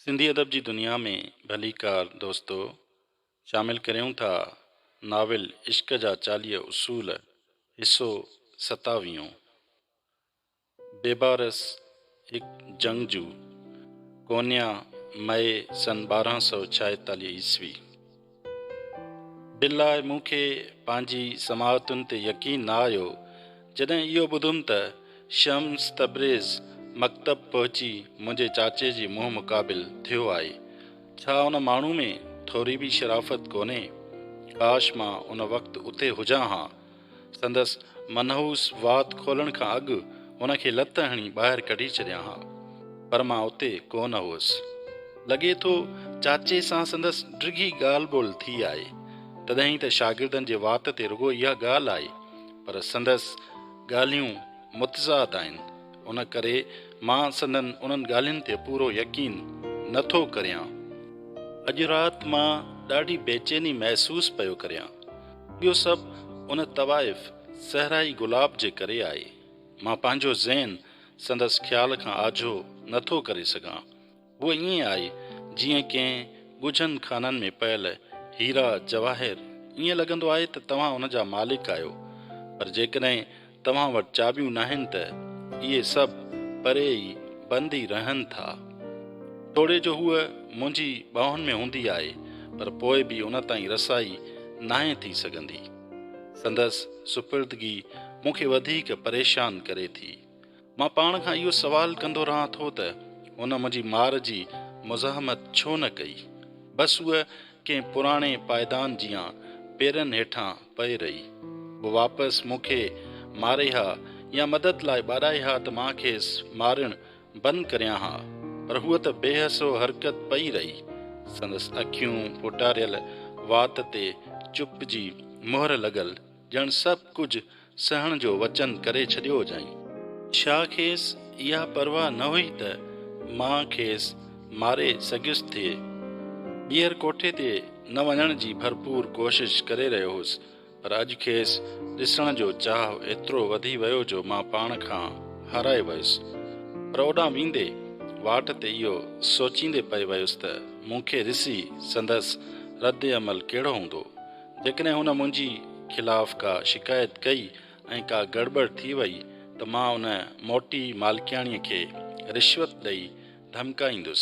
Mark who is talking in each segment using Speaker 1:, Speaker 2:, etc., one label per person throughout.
Speaker 1: سنڌي ادب جي دنيا ۾ ڀليڪار دوستو شامل ڪريون ٿا ناول عشق جا چاليهه اصول حصو ستاويهون بيبارس هڪ جنگجو ڪونيا مئي سن ٻارهن سؤ ڇاهيتاليهه عيسوي. دل لاء مون کي پنهنجي سماعتن تي يقين نه آيو، جڏهن اهو ٻڌم ته شمس تبريز مڪتب پهچي منهنجي چاچي جي منهن مقابل ٿيو آهي. ڇا ان ماڻهو ۾ ٿوري به شرافت ڪونهي؟ ڪاش مان ان وقت اتي هجان ها. سندس منحوس وات کولڻ کان اڳ هن کي لت هڻي ٻاهر ڪڍي ڇڏيان ها، پر مان اتي ڪو نه هوس. لڳي ٿو چاچي سان سندس ڊگهي ڳالهه ٻولهه ٿي آهي، تڏهن ته شاگردن جي وات تي رڳو اها ڳالهه آئي، پر سندس ڳالهيون متضاد آهن، ان ڪري مان سندن انهن ڳالهين تي پورو يقين نه ٿو ڪريان. اڄ رات مان ڏاڍي بيچيني محسوس پيو ڪريان. اهو سڀ ان طوائف صحرائي گلاب جي ڪري آهي. مان پنهنجو ذهن سندس خيال کان آجو نه ٿو ڪري سگهان. هوء ائين آهي جيئن ڪنهن ڳجهن خانن ۾ پيل هيرا جواهر ائين لڳندو آهي ته توهان ان جا مالڪ آهيو پر جيڪڏهن توهان وٽ چاٻيون ناهن ته اهي سڀ پري ئي بند ئي رهن ٿا. توڙي جو هوء منهنجي ٻانهن ۾ هوندي آهي پر پوء به ان تائين رسائي ناهي ٿي سگهندي. سندس سپردگي مون کي وڌيڪ پريشان ڪري ٿي. مان پاڻ کان اهو سوال ڪندو رهان ٿو ته هن منهنجي مار جي مزاحمت ڇو نه ڪئي؟ بس هوء ڪنهن پراڻي پائدان جيان پيرن هيٺان پئي رهي. هوء واپس مون کي ماري ها يا مدد لاء ٻاڏائي ها ته مان کيس مارڻ بند ڪريان ها، پر هوء ته بي حس و حرڪت پئي رهي. سندس اکيون پوٽاريل وات تي چپ جي مهر لڳل. ڄڻ سڀ ڪجهه سهڻ جو وچن ڪري ڇڏيو هجائين. ڇا کيس اها پرواهه نه هئي ته مان کيس ماري سگهيس ٿي؟ ٻيهر ڪوٺي تي نه وڃڻ جي ڀرپور ڪوشش ڪري رهيو هوس، پر اڄ کيس ڏسڻ جو چاهه ايترو وڌي ويو جو مان پاڻ کان هارائي ويس. پر اوڏانهن ويندي واٽ تي اهو سوچيندي پئي ويس ته مون کي ڏسي سندس رد عمل ڪهڙو هوندو؟ جيڪڏهن هن منهنجي خلاف ڪا شڪايت ڪئي ۽ ڪا گڙٻڙ ٿي وئي ته مان ان موٽي مالڪياڻيء کي رشوت ڏئي ڌمڪائيندس.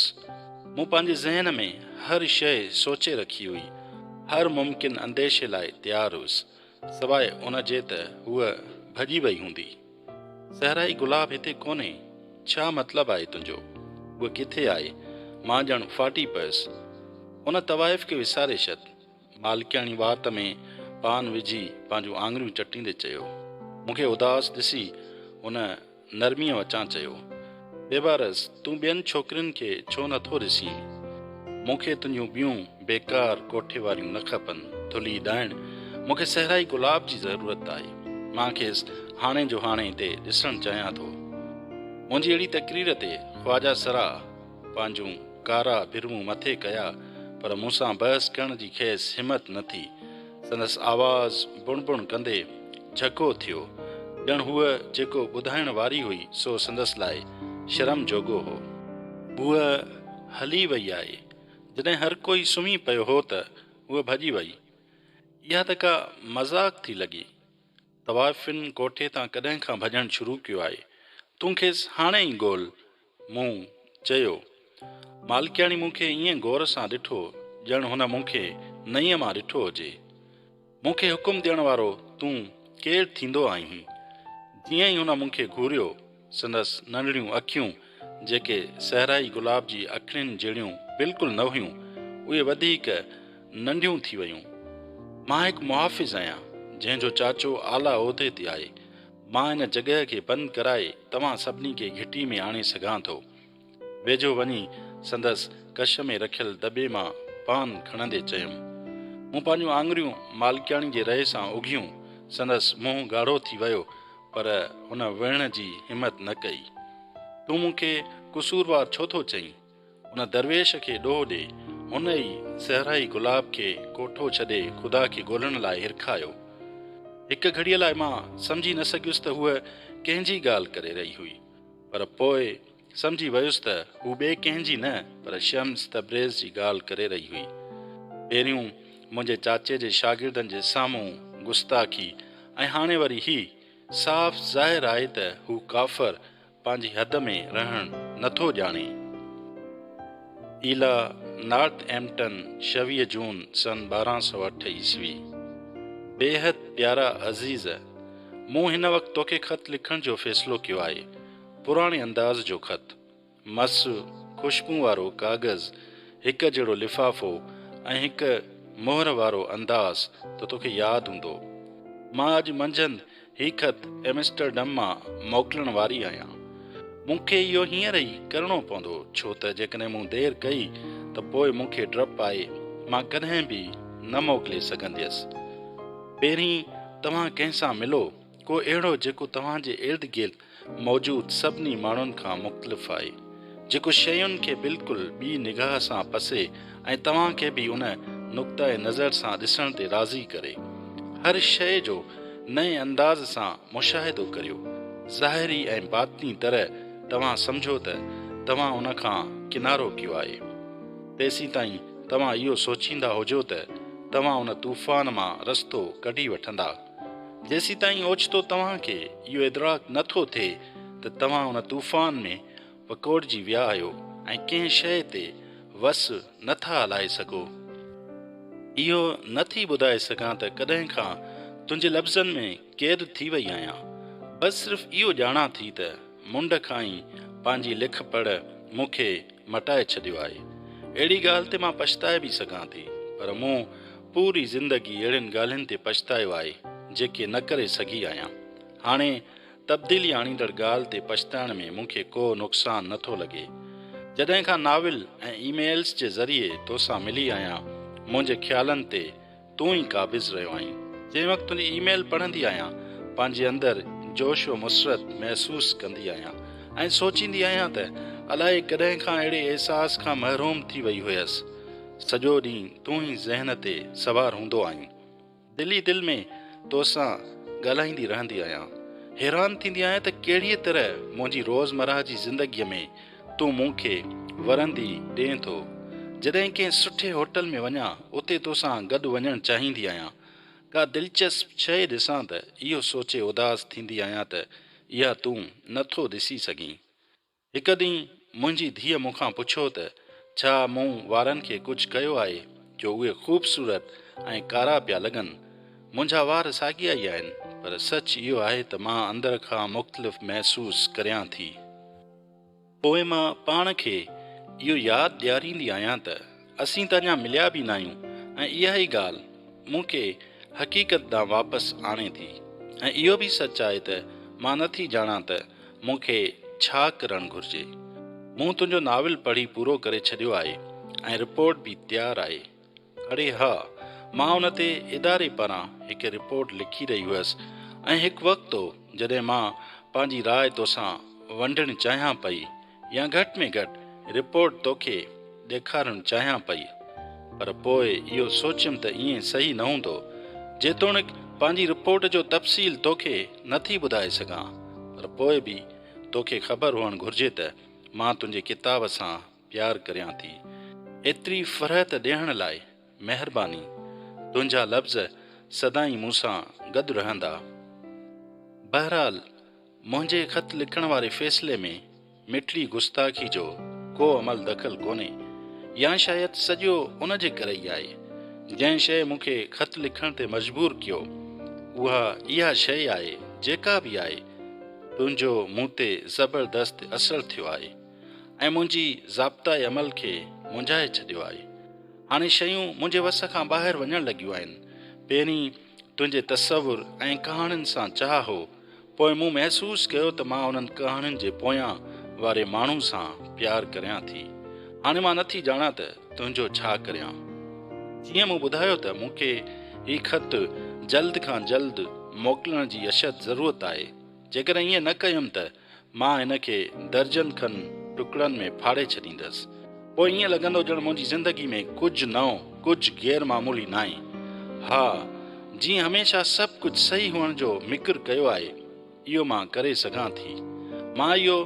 Speaker 1: مون پنهنجي ذهن ۾ هر شيء سوچي رکي هئي. هر ممڪن انديشي لاء تيار هئس، سواء ان جي ته هوء ڀڄي وئي هوندي. صحرائي گلاب هتي ڪونهي، ڇا مطلب آهي تنهنجو؟ هوء ڪٿي آهي؟ مان ڄڻ ڦاٽي پيس. ان طوائف کي وساري ڇڏ. مالڪياڻي وات ۾ پان وجهي پنهنجون آڱريون چٽيندي چيو. مون کي اداس ڏسي هن نرميء وچان چيو، بيبارس تون ٻين ڇوڪرين کي ڇو نه ٿو ڏسين؟ مون کي تنهنجون ٻيون بيڪار ڪوٺي واريون نه کپن، ٿلهي ڏائڻ، مون کي صحرائي گلاب جي ضرورت آهي. مان کيس هاڻي جو هاڻي هتي ڏسڻ چاهيان ٿو. منهنجي اهڙي تقرير تي خواجه سرا، پنهنجون ڪارا برون مٿي ڪيا، پر مون سان بحث ڪرڻ جي کيس همت نه ٿي. سندس آواز بڻ بڻ ڪندي جهڪو ٿيو، ڄڻ هوء جيڪو ٻڌائڻ واري هئي سو سندس لاء شرم جوڳو هو. هوء هلي وئي آهي. جڏهن هر ڪوئي سمهي پيو هو ته هوء ڀڄي وئي. اها ته ڪا مذاق ٿي لڳي. طوائفين ڪوٺي تان ڪڏهن کان ڀڄڻ شروع ڪيو آهي. تون کيس هاڻي ئي ڳول. مون چيو. مالڪياڻي مون کي ائين غور سان ڏٺو ڄڻ هن مون کي نئين مان ڏٺو هجي. مون کي حڪم ڏيڻ وارو تون ڪير ٿيندو آهين؟ جيئن ئي هن مون کي گهوريو، سندس ننڍڙيون اکيون جيڪي صحرائي گلاب جي اکڙين جهڙيون بلڪل نه هيون، اهي وڌيڪ ننڍيون ٿي ويون. مان هڪ محافظ آهيان، جنهن جو چاچو اعليٰ عهدي تي آهي. مان ان جڳهه کي بند ڪرائي توهان سڀني کي گهٽي ۾ آڻي سگهان ٿو. ويجهو وڃي سندس ڪش ۾ رکيل دٻي مان پان کڻندي چيم. مون پنهنجون آڱريون مالڪياڻي جي رئي سان اگهيون، سندس منهن ڳاڙهو ٿي ويو پر هن ويهڻ جي همت نه ڪئي. تون مون کي قصوروار ڇو ٿو چئين؟ ان درويش کي ڏوهه ڏي. هن ئي صحرائي گلاب کي ڪوٺو ڇڏي خدا کي ڳولڻ لاء هرکايو. هڪ گهڙيء لاء مان سمجهي نه سگهيس ته هوء ڪنهن جي ڳالهه ڪري رهي هئي، پر پوء سمجهي ويس ته هو ٻئي ڪنهن جي نه پر شمس تبريز جي ڳالهه ڪري رهي هئي. پهريون منهنجي چاچي جي شاگردن جي سامهون گستاخي ۽ هاڻي وري هي! صاف ظاهر آهي ته هو ڪافر پنهنجي حد ۾ رهڻ نٿو ڄاڻي. ايلا نارٿ ايمپٽن شويهه جون سن ٻارهن سؤ اٺ عيسوي، بيحد پيارا عزيز! مون هن وقت توکي خط لکڻ جو فيصلو ڪيو آهي. پراڻي انداز جو خط. مس خوشبون وارو ڪاغذ، هڪ جهڙو لفافو ۽ هڪ مهر وارو انداز ته توکي ياد هوندو. مان اڄ منجهند هي خط ايمسٽرڊم مان موڪلڻ واري آهيان. مون کي اهو هينئر ئي ڪرڻو پوندو، ڇو ته جيڪڏهن مون دير ڪئي ته پوء مون کي ڊپ آهي، مان ڪڏهن به نه موڪلي سگهنديس. پهرين توهان ڪنهن سان ملو، ڪو اهڙو جيڪو توهان جي ارد گرد موجود سڀني ماڻهن کان مختلف آهي، جيڪو شين کي بلڪل ٻي نگاهه سان پسي ۽ توهان کي به ان نقطئه نظر سان ڏسڻ تي راضي ڪري. هر شيء جو نئين انداز سان مشاهدو ڪريو. ظاهري ۽ باطني طرح توهان سمجهو ته توهان ان کان ڪنارو ڪيو آهي. تيسيتائين توهان اهو سوچيندا هجو ته توهان ان طوفان مان رستو ڪڍي وٺندا. جيسيتائين اوچتو توهان کي اهو ادراڪ نه ٿو ٿئي ته توهان ان طوفان ۾ وڪوڙجي ويا آهيو ۽ ڪنهن شيء تي وس نه ٿا هلائي سگهو. اهو نه ٿي ٻڌائي سگهان ته ڪڏهن کان تنهنجي لفظن ۾ قيد ٿي وئي آهيان، بس صرف اهو ڄاڻان ٿي ته. منڍ کان ئي پنهنجي لک پڙهه مون کي مٽائي ڇڏيو آهي. اهڙي ڳالهه تي مان پڇتائي به سگهان ٿي، پر مون پوري زندگي اهڙين ڳالهين تي پڇتايو آهي، جيڪي نه ڪري سگهي آهيان. هاڻي تبديلي آڻيندڙ ڳالهه تي پڇتائڻ ۾ مون کي ڪو نقصان نه ٿو لڳي. جڏهن کان ناول ۽ ايميلز جي ذريعي توسان ملي آهيان، منهنجي خيالن تي تون ئي قابض رهيو آهين. جنهن وقت تنهنجي اي ميل پڙهندي آهيان، پنهنجي اندر جوش و مسرت محسوس ڪندي آهيان ۽ سوچيندي آهيان ته الائي ڪڏهن کان اهڙي احساس کان محروم ٿي وئي هيس. سڄو ڏينهن تون ئي ذهن تي سوار هوندو آهين. دل ئي دل ۾ توسان ڳالهائيندي رهندي آهيان. حيران ٿيندي آهيان ته ڪهڙيء طرح منهنجي روزمرهه جي زندگيء ۾ تون مون کي ورندي ڏئين ٿو. جڏهن ڪنهن سٺي هوٽل ۾ وڃان اتي توسان گڏ وڃڻ چاهيندي آهيان. ڪا دلچسپ شيء ڏسان ته اهو سوچي اداس ٿيندي آهيان ته اها تون نه ٿو ڏسي سگهين. هڪ ڏينهن منهنجي ڌيء مون کان پڇيو ته ڇا مون وارن کي ڪجهه ڪيو آهي جو اهي خوبصورت ۽ ڪارا پيا لڳن. منهنجا وار ساڳيا ئي آهن پر سچ اهو آهي ته مان اندر کان مختلف محسوس ڪريان ٿي. پوء مان پاڻ کي اهو ياد ڏياريندي آهيان ته اسين ته اڃا مليا به ناهيون ۽ اها ئي ڳالهه مون کي حقيقت ڏانهن واپس آڻي ٿي ۽ اهو به سچ آهي ته مان نه ٿي ڄاڻان ته مون کي ڇا ڪرڻ گهرجي. مون تنهنجو ناول پڙهي پورو ڪري ڇڏيو آهي ۽ رپورٽ به تيار آهي. اڙي ها، مان ان تي اداري پاران هڪ رپورٽ لکي رهي هئس ۽ هڪ وقت هو جڏهن مان پنهنجي راء توسان ونڊڻ چاهيان پئي يا گهٽ ۾ گهٽ رپورٽ توکي ڏيکارڻ چاهيان پئي پر پوء اهو سوچيم ته ائين صحيح نه هوندو جيتوڻيڪ پنهنجي رپورٽ جو تفصيل توکي نه ٿي ٻڌائي سگهان پر پوء به توکي خبر هئڻ گهرجي ته مان تنهنجي ڪتاب سان پيار ڪريان ٿي ايتري فرحت ڏيڻ لاء مهرباني تنهنجا لفظ سدائين مون سان گڏ رهندا بهرحال منهنجي خط لکڻ واري فيصلي ۾ مٽلي گستاخي جو ڪو عمل دخل ڪونهي يا شايد سڄو ان جي ڪري ئي آهي جنهن شيء مون کي خط لکڻ تي مجبور ڪيو اها اها شيء آهي جيڪا به آهي تنهنجو مون تي زبردست اثر ٿيو آهي. ۽ منهنجي ضابطه عمل کي مونجهائي ڇڏيو آهي. هاڻي شيون منهنجي وس کان ٻاهر وڃڻ لڳيون آهن. پهرين تنهنجي تصور ۽ ڪهاڻين سان چاهه هو، پوء مون محسوس ڪيو ته مان انهن ڪهاڻين جي پويان واري ماڻهو سان پيار ڪريان ٿي. هاڻي مان نٿي ڄاڻان ته تنهنجو ڇا ڪريان. جيئن مون ٻڌايو ته مون کي هي خط جلد کان جلد موڪلڻ جي اشد ضرورت آهي. جيڪڏهن ائين نه ڪيم ته مان هن کي درجن کن ٽڪڙن ۾ ڦاڙي ڇڏيندس. پوء ائين لڳندو ڄڻ منهنجي زندگي ۾ ڪجهه نئون، ڪجهه غير معمولي ناهي. ها، جيئن هميشه سڀ ڪجهه صحيح هئڻ جو مڪر ڪيو آهي، اهو مان ڪري سگهان ٿي. مان اهو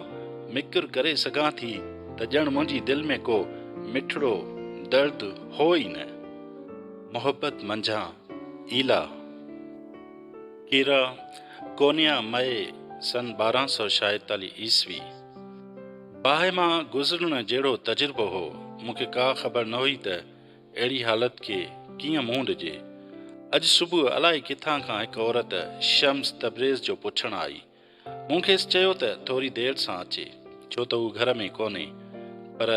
Speaker 1: مڪر ڪري سگهان ٿي ته ڄڻ منهنجي دل ۾ ڪو مٺڙو درد هو ئي نه. محبت منجهان ايلا. کيرا، ڪونيا، مئي، سن ٻارهن سؤ شايتاليهه عيسوي. باهه مان گذرڻ جهڙو تجربو هو، مون کي ڪا خبر نه هئي ته اهڙي حالت کي ڪيئن منهن ڏجي. اڄ صبح الائي ڪٿان کان هڪ عورت شمس تبريز جو پڇڻ آئي ۽ مون کيس چيو ته ٿوري دير سان اچي، ڇو ته هو گهر ۾ ڪونهي. پر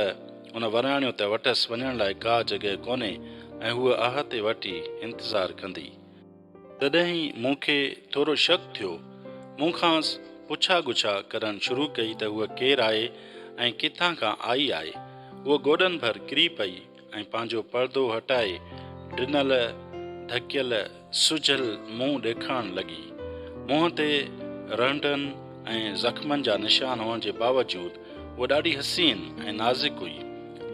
Speaker 1: ان وراڻيو ته وٽس وڃڻ لاء ڪا جڳهه ڪونهي ۽ هوء آهه تي وٺي انتظار ڪندي. تڏهن مون کي ٿورو شڪ ٿيو. مون کانئس پڇا ڳڇا ڪرڻ شروع ڪئي ته هوء ڪير آهي ۽ ڪٿان کان آئي آهي. هوء گوڏن ڀر ڪري پئي. ۽ پنهنجو پردو هٽائي ڊنل، ڍڪيل، سجهيل منهن ڏيکارڻ لڳي. منهن تي رنڊن ۽ زخمن جا نشان هئڻ جي باوجود هوء ڏاڍي حسين ۽ نازڪ هئي.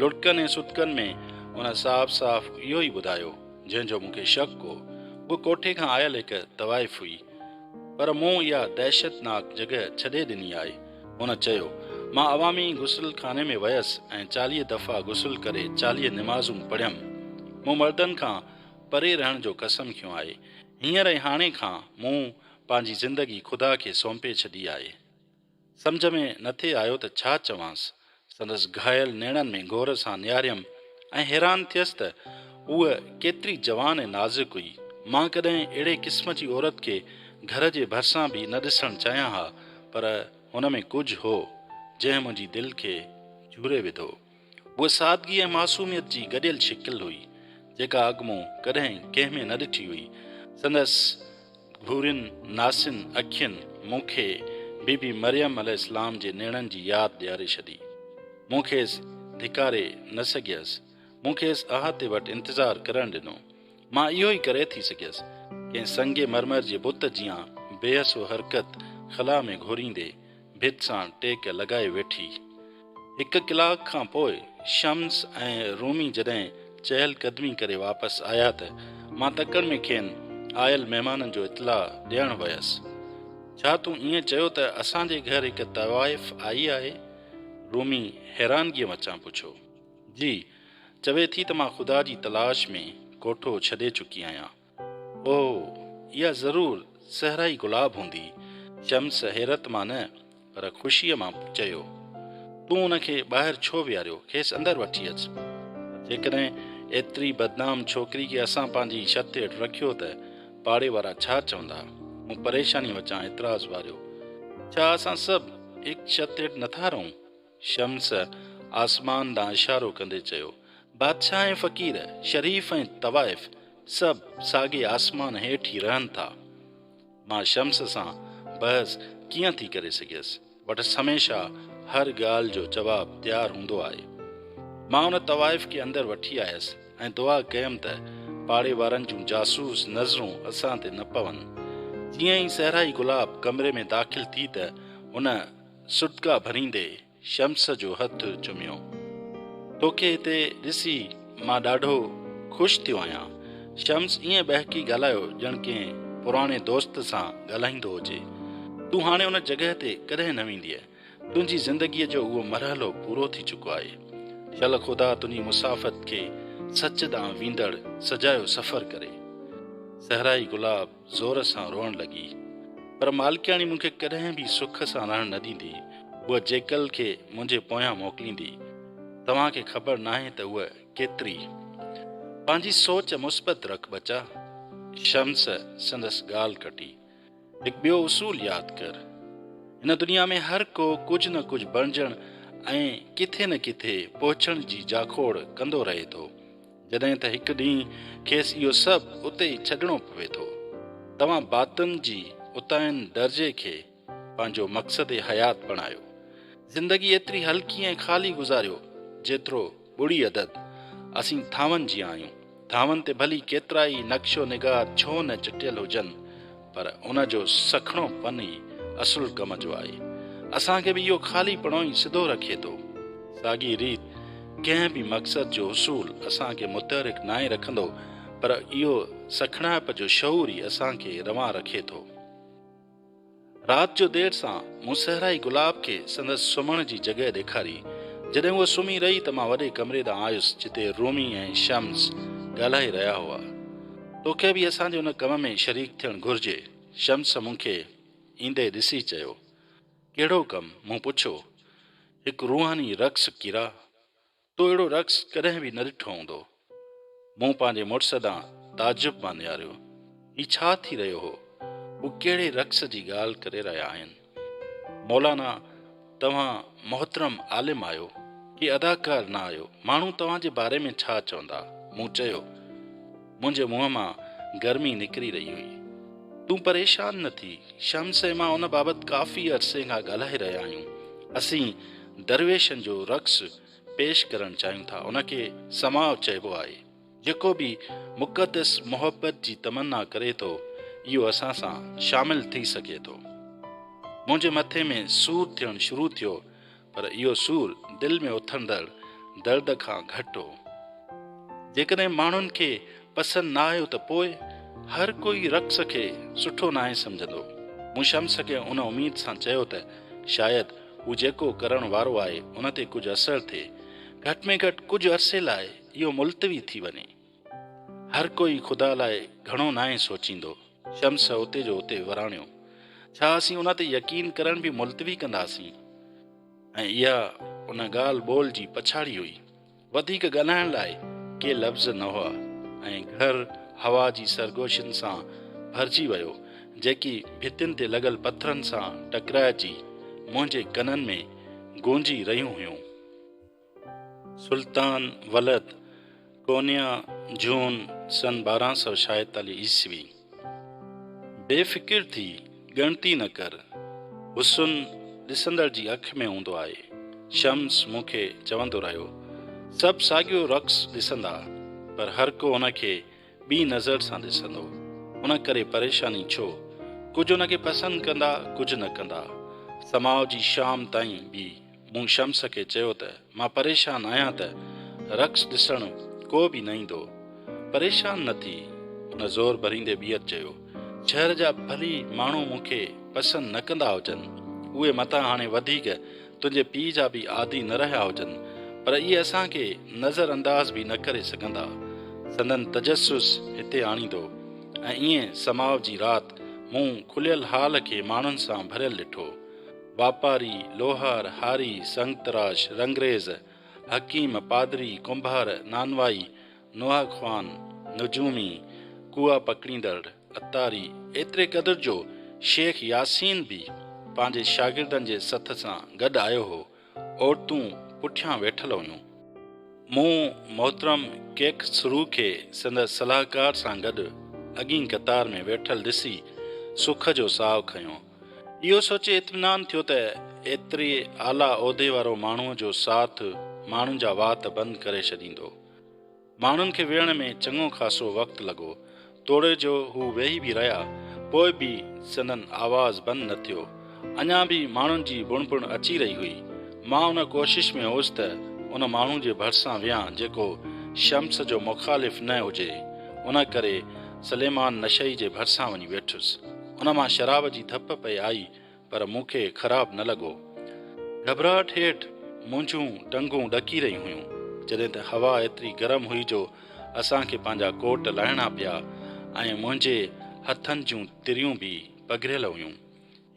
Speaker 1: لڙڪن ۽ سڏڪن ۾ ان صاف صاف اهو ئي ٻڌايو، جنهن جو مون کي شڪ هو. هوء ڪوٺي کان آيل هڪ طوائف هئي. پر مون اها دهشتناڪ جڳهه ڇڏي ڏني آهي. هن چيو، مان عوامي غسل خاني ۾ ويس ۽ چاليهه دفعا غسل ڪري چاليهه نمازون پڙهيم. مون مردن کان پري رهڻ جو قسم کنيو آهي. هينئر ۽ هاڻي کان مون پنهنجي زندگي خدا کي سونپي ڇڏي آهي. سمجهه ۾ نٿي آيو ته ڇا چوانس، سندس گهايل نيڻن ۾ غور سان نهاريم ۽ حيران ٿيس ته هوء ڪيتري جوان ۽ نازڪ هئي. مان ڪڏهن اهڙي قسم جي عورت کي گهر جي ڀرسان به نه ڏسڻ چاهيان ها پر هن ۾ ڪجهه هو جنهن منهنجي دل کي جهوري وڌو. هوء سادگي ۽ معصوميت جي گڏيل شڪل هئي جيڪا اڳ مون ڪڏهن ڪنهن ۾ نه ڏٺي هئي. سندس ڀورين ناسين اکين مون کي بي بي مريم عليه السلام جي نيڻن جي ياد ڏياري ڇڏي. مون کيس ڌڪاري نه سگهيس. مون کيس احاطي وٽ انتظار ڪرڻ ڏنو. مان اهو ئي ڪري ٿي سگهيس. ڪنهن سنگ مرمر جي بت جيان بي حسو حرڪت خلا ۾ گهوريندي ڀت سان ٽيڪ لڳائي ويٺي. هڪ ڪلاڪ کان پوء شمس ۽ رومي جڏهن چهل قدمي ڪري واپس آيا ته مان تڪڙ ۾ کين آيل مهمانن جو اطلاع ڏيڻ ويس. ڇا تون ائين چيو ته اسان جي گهر هڪ طوائف آئي آهي؟ رومي حيرانگيء مچان پڇيو. جي، چوي ٿي ته مان خدا جي تلاش ۾ ڪوٺو ڇڏي چڪي آهيان. او، اها ضرور صحرائي گلاب هوندي. شمس حيرت مان نه پر خوشيء مان چيو، تون ان کي ٻاهر ڇو ويهاريو؟ کيس اندر وٺي اچ. جيڪڏهن ايتري بدنام ڇوڪري کي اسان پنهنجي ڇت هيٺ رکيو ته پاڙي وارا ڇا چوندا؟ مون پريشانيء وچان اعتراض واريو، ڇا اسان سڀ هڪ ڇت هيٺ نٿا رهون؟ شمس آسمان ڏانهن اشارو ڪندي چيو، بادشاهه ۽ فقير، شريف ۽ طوائف سڀ ساڳي آسمان هيٺ ئي رهن ٿا. مان شمس سان بحث ڪيئن ٿي ڪري سگهيس؟ وٽس هميشه هر ڳالهه جو جواب تيار هوندو آهي. مان ان طوائف کي اندر وٺي آيس ۽ دعا ڪيم ته پاڙي وارن جون جاسوس نظرون اسان تي نه پون. جيئن ئي صحرائي گلاب ڪمري ۾ داخل ٿي ته هن سڏڪا ڀريندي شمس جو هٿ چميو. توکي هتي ڏسي مان ڏاڍو خوش ٿيو آهيان. شمس ائين ٻهڪي ڳالهايو ڄڻ ڪنهن پراڻي دوست سان ڳالهائيندو هجي. تون هاڻي ان جڳهه تي ڪڏهن نه ويندينء. تنهنجي زندگيء جو اهو مرحلو پورو ٿي چڪو آهي. شل خدا تنهنجي مسافت کي سچ ڏانهن ويندڙ سجايو سفر ڪري. صحرائي گلاب زور سان روئڻ لڳي. پر مالڪياڻي مون کي ڪڏهن به سک سان رهڻ نه ڏيندي، هوء جيڪل کي منهنجي پويان موڪليندي. توهان کي خبر ناهي ته هوء ڪيتري. پنهنجي سوچ مثبت رک ٻچا. شمس سندس ڳالهه ڪٽي. هڪ ٻيو اصول ياد ڪر. هن دنيا ۾ هر ڪو ڪجهه نه ڪجهه بڻجڻ ۽ ڪٿي نه ڪٿي پهچڻ جي جاکوڙ ڪندو رهي ٿو. جڏهن ته هڪ ڏينهن کيس اهو سڀ اتي ئي ڇڏڻو پوي ٿو. توهان باطن جي اتاهين درجي کي پنهنجو مقصد حيات بڻايو. زندگي ايتري هلڪي ۽ خالي گذاريو جيترو ٻڙي عدد. اسين ٿانون جيان آهيون. ٿانون تي ڀلي ڪيترائي نقش و نگار ڇو نه چٽيل هجن پر ان جو سکڻو پن ئي اصل ڪم جو آهي. اسان کي به اهو خالي پڻو ئي سڌو رکي ٿو. ساڳي ريت ڪنهن به مقصد جو حصول اسان کي متحرڪ ناهي رکندو، پر اهو سکڻائپ جو شعور ئي اسان کي روان رکي ٿو. رات جو دير سان مون صحرائي گلاب کي سندس سمهڻ جي جڳهه ڏيکاري. جڏهن هوء سمهي رهي ته مان وڏي ڪمري ڏانهن آيس جتي رومي ۽ شمس ڳالهائي رهيا هئا. توکي به اسان جي ان ڪم ۾ شريڪ ٿيڻ گهرجي. شمس مون کي ايندي ڏسي چيو. ڪهڙو ڪم؟ مون پڇيو. هڪ روحاني رقص ڪيرا. تو اهڙو رقص ڪڏهن به نه ڏٺو هوندو. مون پنهنجي مڙس ڏانهن تعجب مان نهاريو. هي ڇا ٿي رهيو هو؟ هو ڪهڙي رقص جي ڳالهه ڪري رهيا آهن؟ مولانا توهان محترم عالم آهيو ڪي اداڪار نه آهيو ماڻهو توهان جي باري ۾ ڇا چوندا مون چيو منهنجي منهن مان گرمي نڪري رهي هئي تون پريشان نه ٿي شمس ۽ مان ان بابت ڪافي عرصي کان ڳالهائي رهيا آهيون اسين درويشن جو رقص پيش ڪرڻ چاهيون ٿا ان کي سماء چئبو آهي جيڪو به مقدس محبت جي تمنا ڪري ٿو اهو اسان سان شامل ٿي سگهي ٿو. منهنجي مٿي ۾ سور ٿيڻ شروع ٿيو پر اهو سور دل ۾ اٿندڙ درد کان گهٽ هو. جيڪڏهن ماڻهن کي پسند نه آيو ته پوء؟ هر ڪوئي رقص کي سٺو ناهي سمجهندو. مون شمس کي ان اميد سان چيو ته شايد هو جيڪو ڪرڻ وارو آهي ان تي ڪجهه اثر ٿئي. گهٽ ۾ گهٽ ڪجهه عرصي لاء. اهو ملتوي ٿي وڃي. هر ڪوئي خدا لاء گهڻو ناهي سوچيندو. شمس اتي جو اتي وراڻيو. ڇا اسين ان تي يقين ڪرڻ به ملتوي ڪنداسين؟ ۽ اها ان ڳالهه ٻولهه جي پڇاڙي هئي. وڌيڪ ڳالهائڻ لاء ڪي لفظ نه هئا ۽ گهر هوا جي سرگوشين سان ڀرجي ويو جيڪي ڀتين تي لڳل پٿرن سان ٽڪرائجي منهنجي ڪنن ۾ گونجي رهيون هيون. سلطان ولد، ڪونيا، جون، سن ٻارهن سؤ ڇاهيتاليهه عيسوي، بي فڪر ٿي، ڳڻتي نه ڪر، حسن ڏسندڙ جي اک ۾ هوندو آهي، شمس مون کي چوندو رهيو، سڀ ساڳيو رقص ڏسندا، پر هر ڪو ان کي ٻي نظر سان ڏسندو، ان ڪري پريشاني ڇو؟ ڪجهه ان کي پسند ڪندا، ڪجهه نه ڪندا، سماء جي شام تائين به مون شمس کي چيو ته مان پريشان آهيان ته رقص ڏسڻ ڪو به نه ايندو. پريشان نه ٿي. هن زور ڀريندي ٻيهر چيو، شهر جا ڀلي ماڻهو مون کي پسند نه ڪندا هجن، اهي متان هاڻي وڌيڪ تنهنجي پيء جا به عادي نه رهيا هجن، پر اهي اسان کي نظر انداز به نه ڪري سگهندا. سندن تجسس هتي آڻيندو. ۽ ائين سماء جي رات مون کليل هال کي ماڻهن سان ڀريل ڏٺو. واپاري، لوهار، هاري، سنگ تراش، رنگريز، حڪيم، پادري، ڪنڀار، نانوائي، نوحه خوان، نجومي، ڪوئا پڪڙيندڙ، عطاري، ايتري قدر جو شيخ ياسين به پنهنجي شاگردن جي سٿ سان گڏ آيو هو. عورتون پٺيان ويٺل هيون. مون محترم ڪيخ سرو کي سندس صلاحڪار سان گڏ اڳين قطار ۾ ويٺل ڏسي سک جو ساهه کنيو. اهو سوچي اطمينان ٿيو ته ايتري اعليٰ عهدي وارو ماڻهوء جو ساٿ ماڻهن جا وات بند ڪري ڇڏيندو. ماڻهن کي ويهڻ ۾ چڱو خاصو وقت لڳو، توڙي جو هو ويهي به رهيا، پوء به سندن آواز بند نه ٿيو. اڃا به ماڻهن جي بڻ بڻ اچي رهي هئي. مان ان ڪوشش ۾ هوس ته ان ماڻهو جي ڀرسان ويهان جيڪو شمس جو مخالف نه هجي، ان ڪري سليمان نشئي جي ڀرسان وڃي ويٺس. ان مان شراب جي ڌپ پئي آئي پر مون کي خراب نه لڳو. گهٻراهٽ هيٺ منهنجون ٽنگون ڏڪي رهيون هيون جڏهن ته هوا ايتري گرم هئي جو اسان کي پنهنجا ڪوٽ لاهڻا پيا ۽ منهنجي هٿن جون تريون به پگهريل هيون.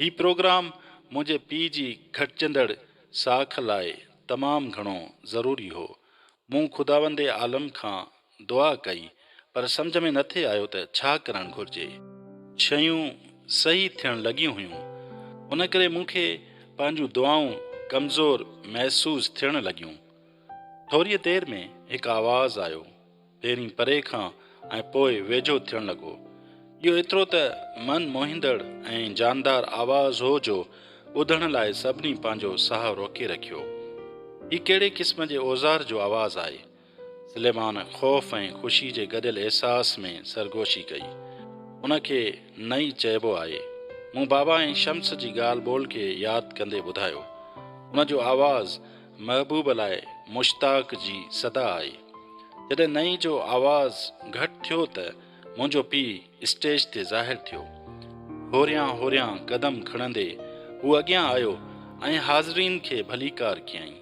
Speaker 1: هي پروگرام منهنجي پيء جي گهٽجندڙ ساک لاء تمام گهڻو ضروري هو. مون خداوند عالم کان دعا ڪئي، پر سمجهه ۾ نٿي آيو ته ڇا ڪرڻ گهرجي. شيون صحيح ٿيڻ لڳيون هيون، ان ڪري مون کي پنهنجون دعائون ڪمزور محسوس ٿيڻ لڳيون. ٿوريء دير ۾ هڪ آواز آيو، پهرين پري کان ۽ پوء ويجهو ٿيڻ لڳو. اهو ايترو ته من موهيندڙ ۽ جاندار آواز هو جو ٻڌڻ لاء سڀني پنهنجو ساهه روڪي رکيو. هي ڪهڙي قسم جي اوزار جو آواز آهي؟ سليمان خوف ۽ خوشي جي گڏيل احساس ۾ سرگوشي ڪئي. ان کي نه ئي چئبو آهي. مون بابا ۽ شمس جي ڳالهه ٻولهه کي ياد ڪندي ٻڌايو. ان جو آواز محبوب لاء مشتاق جي صدا آهي. جڏهن نئي جو آواز گهٽ ٿيو ته منهنجو پيء اسٽيج تي ظاهر ٿيو. هوريان هوريان قدم کڻندي هو اڳيان آيو ۽ حاضرين کي ڀليڪار ڪيائين.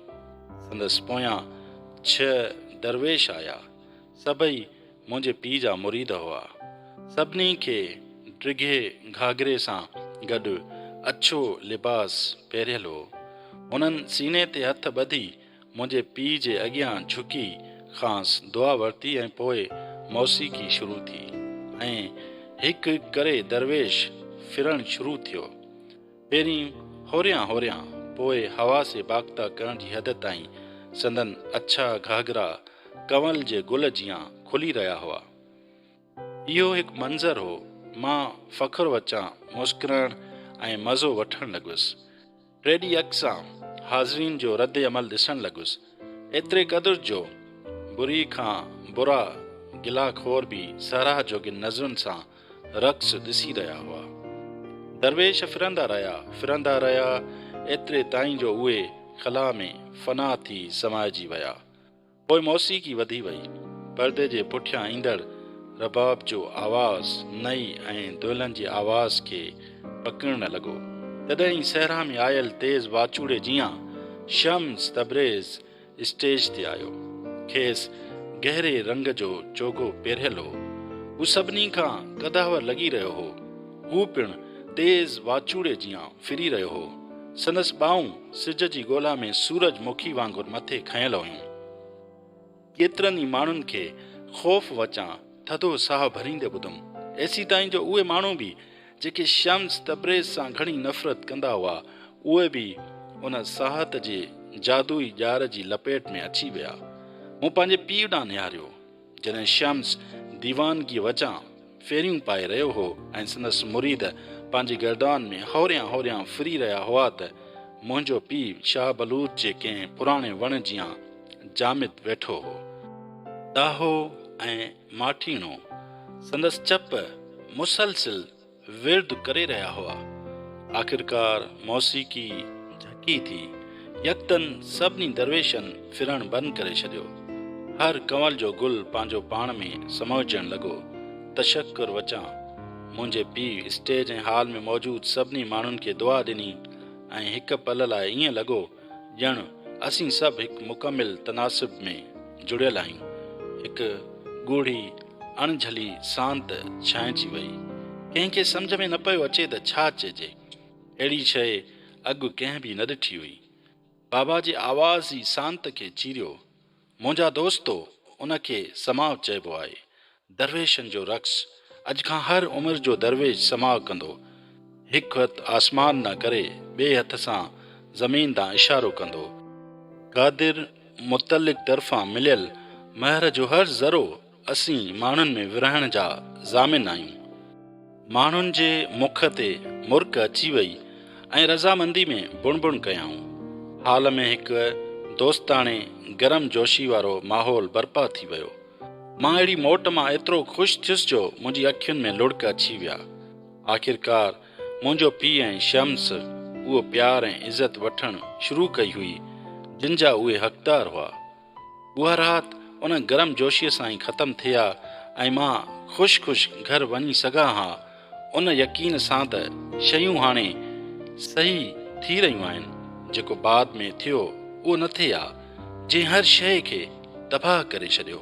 Speaker 1: سندس پويان ڇهه درويش آيا. سڀئي منهنجي پيء جا مريد هئا. سڀني کي ڊگهي گهاگري سان گڏ اڇو لباس پهريل هو. هنن سيني تي هٿ ٻڌي منهنجي پيء جي اڳيان جهڪي کانئس دعا ورتي ۽ پوء موسيقي شروع ٿي ۽ هڪ هڪ ڪري درويش ڦرڻ شروع ٿيو. پهرين هوريان هوريان پوء حواس باخته ڪرڻ جي حد تائين سندن اڇا گهاگرا ڪنول جي گل جيان کلي رهيا هئا. اهو هڪ منظر هو. مان فخر وچان مسڪرڻ ۽ مزو وٺڻ لڳس. ٽي ڊي ايڪس سان حاضرين جو رد عمل ڏسڻ لڳس. ايتري قدر جو بري کان برا گلا خور به ساراهه جوڳين نظرن سان رقص ڏسي رهيا هئا. درويش ڦرندا رهيا، ڦرندا رهيا ايتري تائين جو اهي خلا ۾ فنا ٿي سمائجي ويا. پوء موسيقي وڌي وئي. پردي جي پٺيان ايندڙ رباب جو آواز نئي ۽ دولن جي آواز کي پڪڙڻ لڳو. تڏهن ئي صحرا ۾ آيل تيز واچوڙي جيان شمس تبريز اسٽيج تي آيو. کيس گهري رنگ جو چوغو پيرهيل هو. هو سڀني کان قداور لڳي رهيو هو. هو پڻ تيز واچوڙي جيان ڦري رهيو هو. سندس ٻانهون سج جي ڳولا ۾ سورج مکي وانگر مٿي کنيل هيون. ڪيترن ئي ماڻهن کي خوف وچان ٿڌو ساهه ڀريندي ٻڌم. ايسيتائين جو اهي ماڻهو به جيڪي شمس تبريز سان گهڻي نفرت ڪندا هئا، اهي به ان ساهت جي جادوئي ڄار جي لپيٽ ۾ اچي ويا. مون پنهنجي پيء ڏانهن نهاريو. جڏهن شمس ديوانگيء وچان ڦيريون پائي رهيو هو ۽ سندس مريد پنهنجي گردان ۾ هوريان هوريان ڦري رهيا هئا ته منهنجو پيء شاهه بلوچ جي ڪنهن پراڻي وڻ جيان جامد ويٺو هو. ڏاهو ۽ ماٺيڻو سندس چپ مسلسل ورد ڪري رهيا هئا. آخرڪار موسيقي جهڪي ٿي. يڪدن سڀني درويشن ڦرڻ بند ڪري ڇڏيو. هر ڪنول جو گل پنهنجو پاڻ ۾ سموئجڻ لڳو. تشڪر وچان منهنجي پيء اسٽيج ۽ هال ۾ موجود سڀني ماڻهن کي دعا ڏني ۽ هڪ پل لاء ائين لڳو ڄڻ اسين سڀ هڪ مڪمل تناسب ۾ جڙيل آهيون. هڪ ڳوڙهي اڻجھلي سانت ڇانئجي وئي. ڪنهن کي سمجھه ۾ نه پيو اچي ته ڇا چئجي. اهڙي شيء اڳ ڪنهن به نه ڏٺي هئي. بابا جي آواز ئي سانت کي چيريو. منهنجا دوستو! ان کي سماع چئبو آهي. درويشن جو رقص. اڄ کان هر عمر جو درويش سماع ڪندو. هڪ هٿ آسمان ڏانهن ڪري، ٻئي هٿ سان زمين ڏانهن اشارو ڪندو. قادر متعلق طرفان مليل مهر جو هر ذرو اسين ماڻهن ۾ ورهائڻ جا ضامن آهيون. ماڻهن جي مک تي مرڪ اچي وئي ۽ رضامندي ۾ بڻ بڻ ڪيائون. هال ۾ هڪ دوستاڻي گرم جوشي وارو ماحول برپا ٿي ويو. مان اهڙي موٽ مان ايترو خوش ٿيس جو منهنجي اکين ۾ لڙڪ اچي ويا. آخرڪار منهنجو پيء ۽ شمس اهو پيار ۽ عزت وٺڻ شروع ڪئي هئي جن جا اهي حقدار هئا. اها رات ان گرم جوشيء سان ئي ختم ٿي ها ۽ مان خوش خوش گهر وڃي سگهان ها، ان يقين سان ته شيون هاڻي صحيح ٿي رهيون آهن، جيڪو بعد ۾ ٿيو اهو نه ٿئي ها، جنهن هر شيء کي تباهه ڪري ڇڏيو.